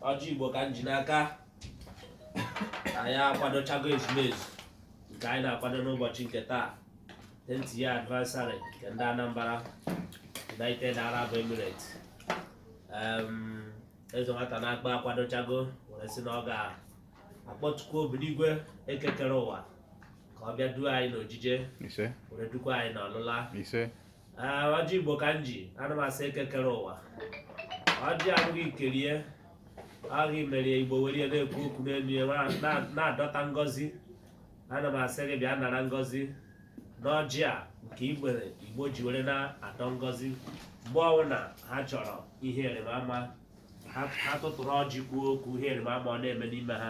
ọjị igbo ka m ji n'aka anyị akwadochago ezumezu nke anyị na-akwado n'ụbọchị nke taa tenth year anniversary nke ndị anambra united arab emirates eze nwata na-akpa akwadochago were sị na ọ ga-akpọtukwu obiligwe eke kere ụwa ka ọ bịa duo anyị n'ojije ise were dukwa anyị n'ọlụla ise Ee, ọjị igbo ka m ji ana m asị eke kere ụwa ọjị a bụ gị kere ya ọ gị mere igbo were ya na-ekwu okwu n'elu ya na- na- na-adọta ngọzi ana m asị gị bịa nara ngọzi n'ọjị a nke igbo ji were na-adọ ngọzi mgbe ọbụla ha chọrọ ihe rị mma ha ha tụtụrụ ọjị kwuo okwu ihe rị mma ọ na-eme n'ime ha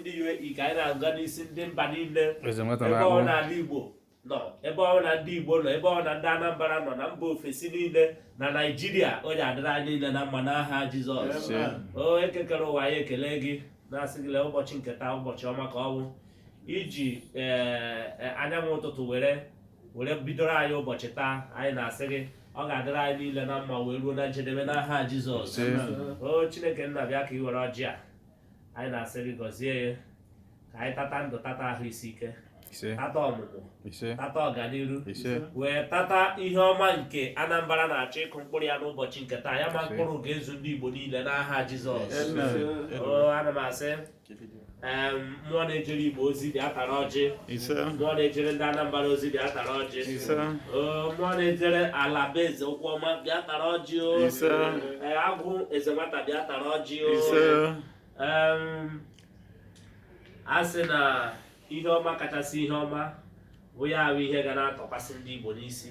ndị UAE ka anyị na-agọ n'isi ndị mba niile ebe ọ na ala Igbo nọ ebe ọ na ndị Igbo nọ ebe ọ na ndị Anambra nọ na mba ofesi niile na Naịjirịa ọ ya-adịrị anyị niile na mma n'aha Jizọs o eke kere ụwa anyị ekele gị na-asị gị lee ụbọchị nke taa ụbọchị ọma ka ọ bụ i ji e, e, anyanwụ ụtụtụ were were bidoro anyị ụbọchị taa anyị na-asị gị ọ ga-adịrị anyị niile na mma wee ruo na njedebe n'aha Jizọs o Chineke nna bịa ka ị were ọjị a anyị na-asị gị gọzie ya ka anyị tata ndụ tata ahụ isi ike tata ọmụmụ tata ọganiru wee tata ihe ọma nke Anambra na-achọ ịkụ mkpụrụ ya n'ụbọchị nke taa ya mịa mkpụrụ ga-ezu ndị Igbo niile n'aha Jizọs ana m asị mmụọ na-ejere Igbo ozi bịa tara ọjị ise mmụọ na-ejere ndị anambra ozi bịa tara ọjị ise Oo, mmụọ na-ejere ala be eze ụkwụ ọma bịa tara ọjị o ise Ee, agwụ eze nwata bịa tara ọjị o ise Em, a sị na ihe ọma kachasị ihe ọma bụ ya bụ ihe ga na-atọkwasị ndị igbo n'isi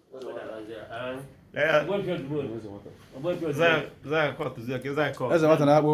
Eze nwata na-akpụ